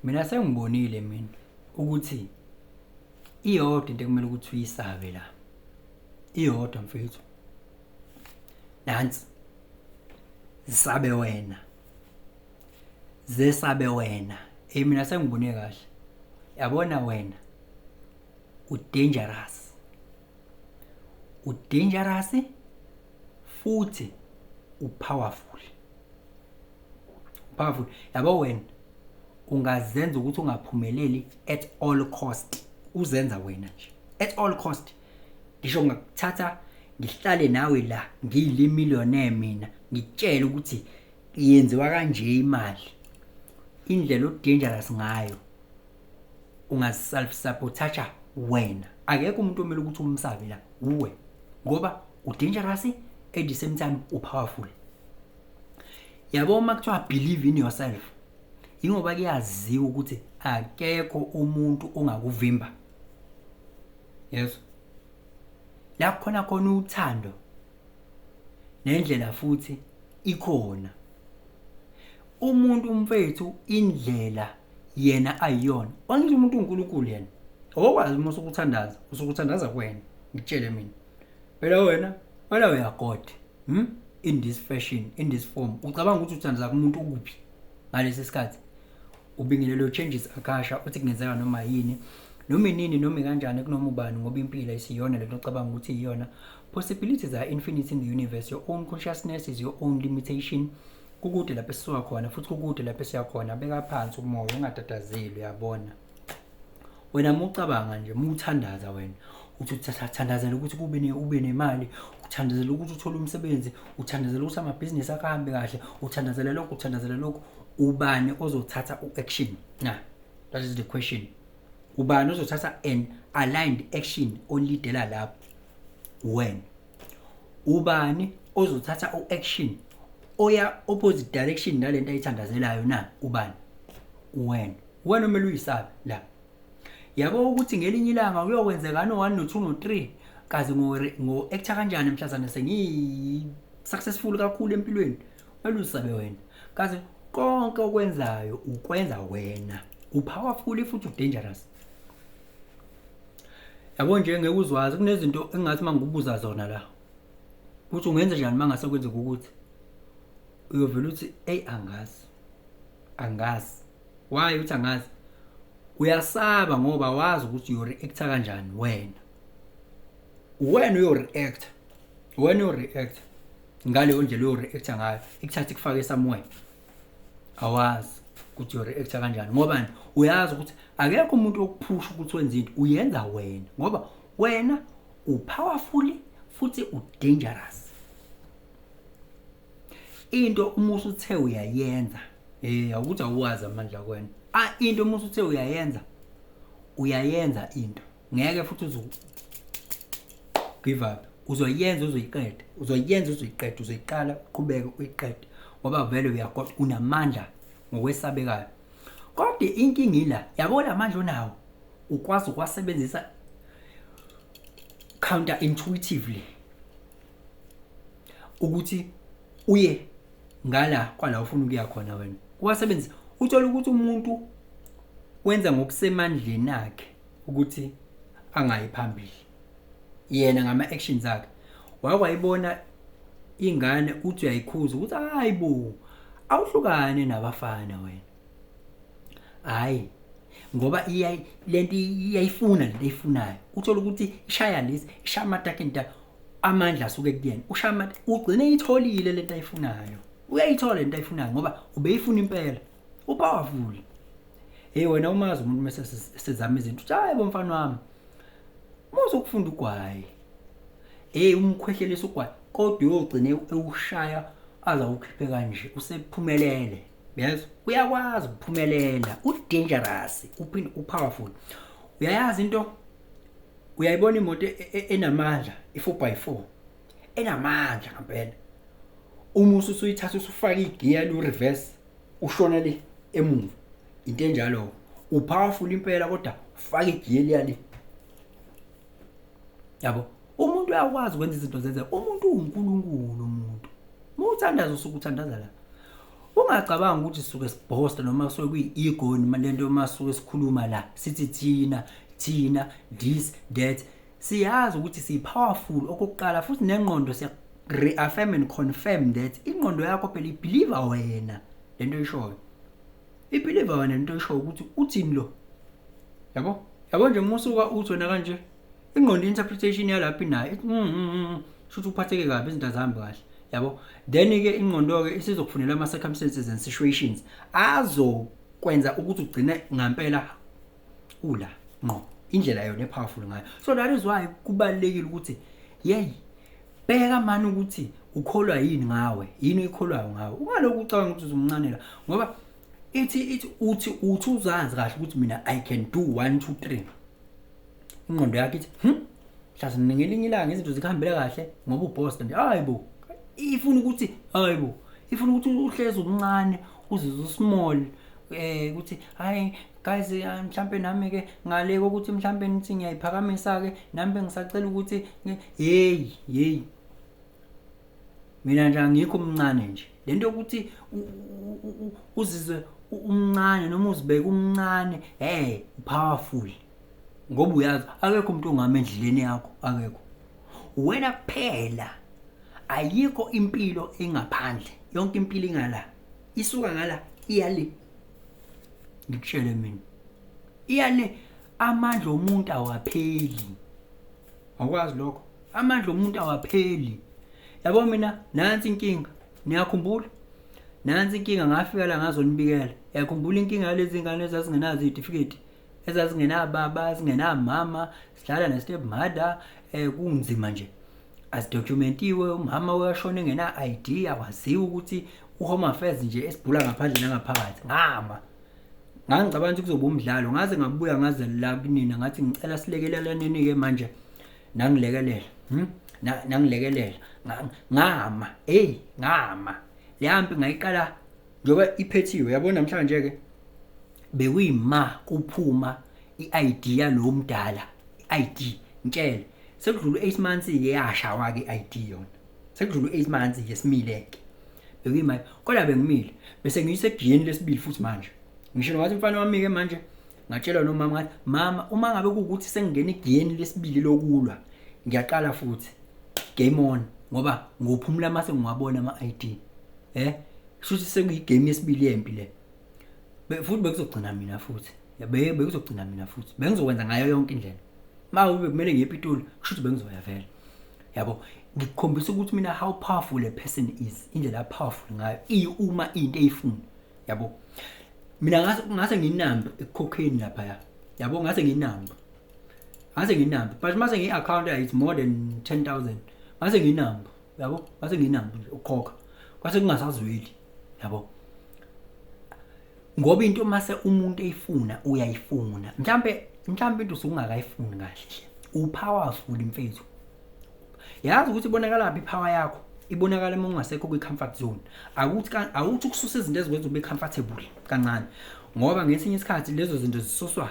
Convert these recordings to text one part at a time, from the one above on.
mina sengibonile mina ukuthi iyodwa into ekumele ukuthi uyisabe la iyodwa mfethu nansi zisabe wena zesabe wena eh mina sengibone kahle yabona wena u dangerous u dangerous futhi u powerful powerful yabo wena ungazenza ukuthi ungaphumeleli at all cost uzenza wena nje at all cost ngisho ngakuthatha ngihlale nawe la ngiyile millionaire mina ngitshela ukuthi yenziwa kanje imali indlela odangerous ngayo ungaself sabotager wena akekho umuntu omele ukuthi umsabe la uwe ngoba udangerous at the same time upowerful yabo uma kuthiwa believe in yourself ingoba kuyaziwa ukuthi akekho umuntu ongakuvimba yeso la khona khona uthando nendlela futhi ikhona umuntu umfethu indlela yena ayiyona onke umuntu uNkulunkulu yena owakwazi uma usukuthandaza usukuthandaza kwena ngitshele mina Phela wena wena uyagoda. Hmm? In this fashion, in this form. Ucabanga ukuthi uthandazaka umuntu ukuphi ngalesi sikhathi? Ubingelele uchanges akasha uthi kungenzeka noma yini. Noma inini noma kanjani kunoma ubani ngoba impilo isiyona lento ocabanga ukuthi iyona. Possibilities are infinite in the universe. Your own consciousness is your own limitation. Kukude lapho esisuka khona futhi kukude lapho esiya khona. Beka phansi umoya ungatatazeli uyabona. wena mucabanga nje muthandaza wena uthi uthandazela ukuthi kube ne ube nemali uthandazela ukuthi uthole umsebenzi uthandazela ukuthi amabhizinisi akho ahambe kahle uthandazela lokho uthandazela lokho ubani ozothatha u-action na that is the question ubani ozothatha an aligned action olidela lapho wena ubani ozothatha u-action oya opposite direction nalento ayithandazelayo na ubani wena Wena umele uyisabe la. Yabo ukuthi ngelinye ilanga kuyokwenzekani o1 no2 no3 kazi ngo ngo actor kanjani mhlazana sengi successful kakhulu empilweni. Wena usabe wena. Kazi konke okwenzayo ukwenza wena. Upowerful futhi udangerous. Yabo nje ngeke uzwazi kunezinto engathi mangibuza zona la. Ukuthi ungenza njani mangase kwenzeka ukuthi uyovela uthi hey angazi. Angazi. Why uthi angazi? Uyasaba ngoba wazi ukuthi you react kanjani wena. When you react, when you react ngaleyo ndlela you react ngayo, ikuthatha ikufake somewhere. Awazi ukuthi you react kanjani ngoba uyazi ukuthi akekho umuntu okuphusha ukuthi wenze into uyenza wena ngoba wena upowerful futhi udangerous. into uma usuthe uyayenza eh awukuthi awazi amandla kwena ah into uma usuthe uyayenza uyayenza into ngeke futhi uzu give up uzoyenza uzoyiqeda uzoyenza uzoyiqeda uzoyiqala uqhubeke uyiqede ngoba vele uyagoda unamandla ngokwesabekayo kodwa inkinga ila yabo lamandla onawo ukwazi ukwasebenzisa counter intuitively ukuthi uye ngala kwala ufuna ukuya khona wena wasebenzisa uthola ukuthi umuntu wenza ngokusemandleni akhe ukuthi angayi phambili yena ngama actions akhe wakwayibona ingane uthi uyayikhuza ukuthi hayi bo awuhlukane nabafana wena hayi ngoba lento iyayifuna lento eyifunayo uthola ukuthi ishaya lesi ishaya amatakenta amandla asuke kuyena ushama ugcine itholile lento ayifunayo uyayithola lento ayifunayo ngoba ubeyifuna impela upowerful hey wena umazi umuntu mase sizama izinto uthi hayi bomfana wami muze ukufunda ugwayi hey umkhwehlelisa ugwayi kodwa uyogcine ewushaya aza ukhiphe kanje usephumelele yes uyakwazi ukuphumelela udangerous uphinde upowerful uyayazi into uyayibona imoto e- e- enamandla i-four by four enamandla ngampela uma ususuyithatha usufaka igiya lu-reverse ushona le emuva into enjalo upowerful impela kodwa ufaka igiya eliya le yabo umuntu uyakwazi ukwenza izinto zenzeka umuntu uwunkulunkulu umuntu uma uthandaza usuke uthandaza la ungacabanga ukuthi suke sibhosta noma kusuke kuyi-ego noma le nto uma suke sikhuluma la sithi thina thina this that siyazi ukuthi siyi-powerful okokuqala futhi nengqondo siya-reaffirm and confirm that ingqondo yakho phela ibhiliva wena le nto ishoyo ibhiliva wena le nto ishoyo ukuthi uthini lo yabo yabo nje uma usuka uthi wena kanje ingqondo interpretation yalaphi nayo ithi mm, mm, mm, shuthi uphatheke kabi izinto azihambi kahle yabo then ke ingqondo ke isizokufunela ama circumstances and situations azokwenza ukuthi ugcine ngampela ula ngqo indlela yona epowerful ngayo so that is why kubalekile ukuthi yey bheka mani ukuthi ukholwa yini ngawe yini oyikholwayo ngawe ungaloku ucabanga ukuthi uzumncanela ngoba ithi ithi uthi uthi uzazi kahle ukuthi mina i can do 1 2 3 ingqondo yakhe ithi hm hlase ngelinye ilanga izinto zikuhambela kahle ngoba uboss nje hayibo ifuna ukuthi hayibo ifuna ukuthi uhleze umncane uzizwe usmall eh ukuthi hayi guys mhlambe nami ke ngale ukuthi mhlambe nithi ngiyayiphakamisa ke nami bengisacela ukuthi hey hey mina nje angikho umncane nje le nto yokuthi uzizwe umncane noma uzibeke umncane hey powerful ngoba uyazi akekho umuntu ongama endleleni yakho akekho wena kuphela ayikho impilo engaphandle yonke impilo ingala isuka ngala iyale ngikutshele mina iyale amandla omuntu awapheli awukwazi lokho amandla omuntu awapheli yabo mina nansi inkinga niyakhumbula nansi inkinga ngafika la ngazonibikela yakhumbula inkinga yalezi ngane ezazingenazo izitifiketi ezazingenababa ezingenamama sidlala ne-step mother um eh, kunzima nje azidokumentiwe umama uyashona engena-id akwaziwe ukuthi uhome affairs nje esibhula ngaphandle nangaphakathi ngama ngangicabanga ukuthi kuzoba umdlalo ngaze ngabuya ngaze la kunina ngathi ngicela silekelelane ke manje nangilekelela hmm? nangilekelela ngama hey ngama leyampi ngayiqala njoba iphethiwe yabo namhlanje ke bekuyima kuphuma iID yalo mdala iID ngitshele sekudlula 8 months ke yashawa ke iID yona sekudlula u-eight months nje simile-ke bekuyimali kodwa bengimile bese ngiyisegiyeni lesibili futhi manje ngisho nowathi umfana wami-ke manje ngatshelwa nomama ngathi mama uma ngabe kuwukuthi sengingena igiyeni lesibili lokulwa ngiyaqala futhi game on ngoba ngophumula uma sengiwabona ama-i d um shuthi sekuyigame yesibili yempi le futhi bekuzogcina mina futhi bekuzogcina mina futhi bengizokwenza ngayo yonke indlela uma kube kumele ngiye epitoli kusho ukuthi bengizoya vele yabo ngikukhombisa ukuthi mina how powerful le person is indlela ya powerful ngayo iyi uma into eyifuna yabo mina ngase ngase nginamba ekukhokheni lapha ya yabo ngase nginamba ngase nginamba but mase ngi account is more than 10000 ngase nginamba yabo ngase nginamba ukukhokha kwase kungasazweli yabo ngoba into mase umuntu eyifuna uyayifuna mhlambe mhlambe into usungakayifuni kahle upowerful mfethu yazi ukuthi ibonakala phi power yakho ibonakala uma ungasekho kwi-comfort zone akuthi awuthi ukususa izinto ezikwenza ube comfortable kancane ngoba ngesinye isikhathi lezo zinto zisuswa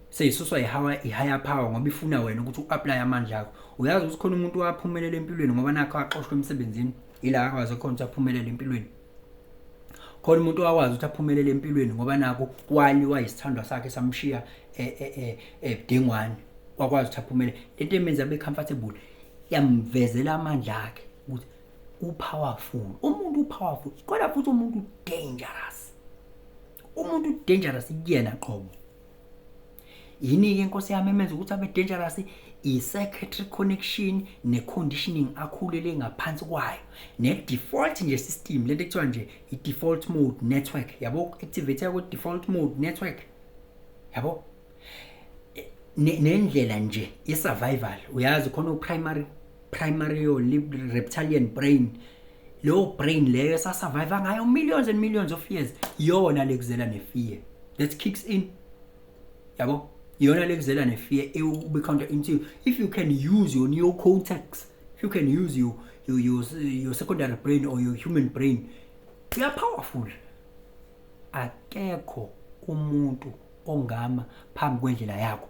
seyisuswa i-higher power ngoba ifuna wena ukuthi u-aplaye amandla akho uyazi ukuthi khona umuntu waphumelela empilweni ngoba nakho axoshwa emsebenzini ila akwazi khona ukuthi aphumelele empilweni khona umuntu wakwazi ukuthi aphumelele empilweni ngoba naku kwali wayisithandwa sakhe samshiya ebudengwane e, e, e, wakwazi ukuthi aphumelele lento emenza abe comfortable yamvezela amandla akhe ukuthi upowerful umuntu upowerful kodwa futhi umuntu dangerous umuntu dangerous kuyena qobo yini-ke inkosi yami emenza ukuthi abe dangerous i-secretary connection ne-conditioning akhulele ngaphansi kwayo ne-default nje system lento ekuthiwa nje i-default mode network yabo activate kwe-default mode network yabo nendlela nje ye-survival uyazi khona u-primary primario reptilian brain leyo brain leyo esasurvive ngayo millions and millions of years yona lekuzela nefear that kicks in yabo iyona lekuzela nefear ewube counter into if you can use your new contacts if you can use your your your, your secondary brain or your human brain you are powerful akekho umuntu ongama phambi kwendlela yakho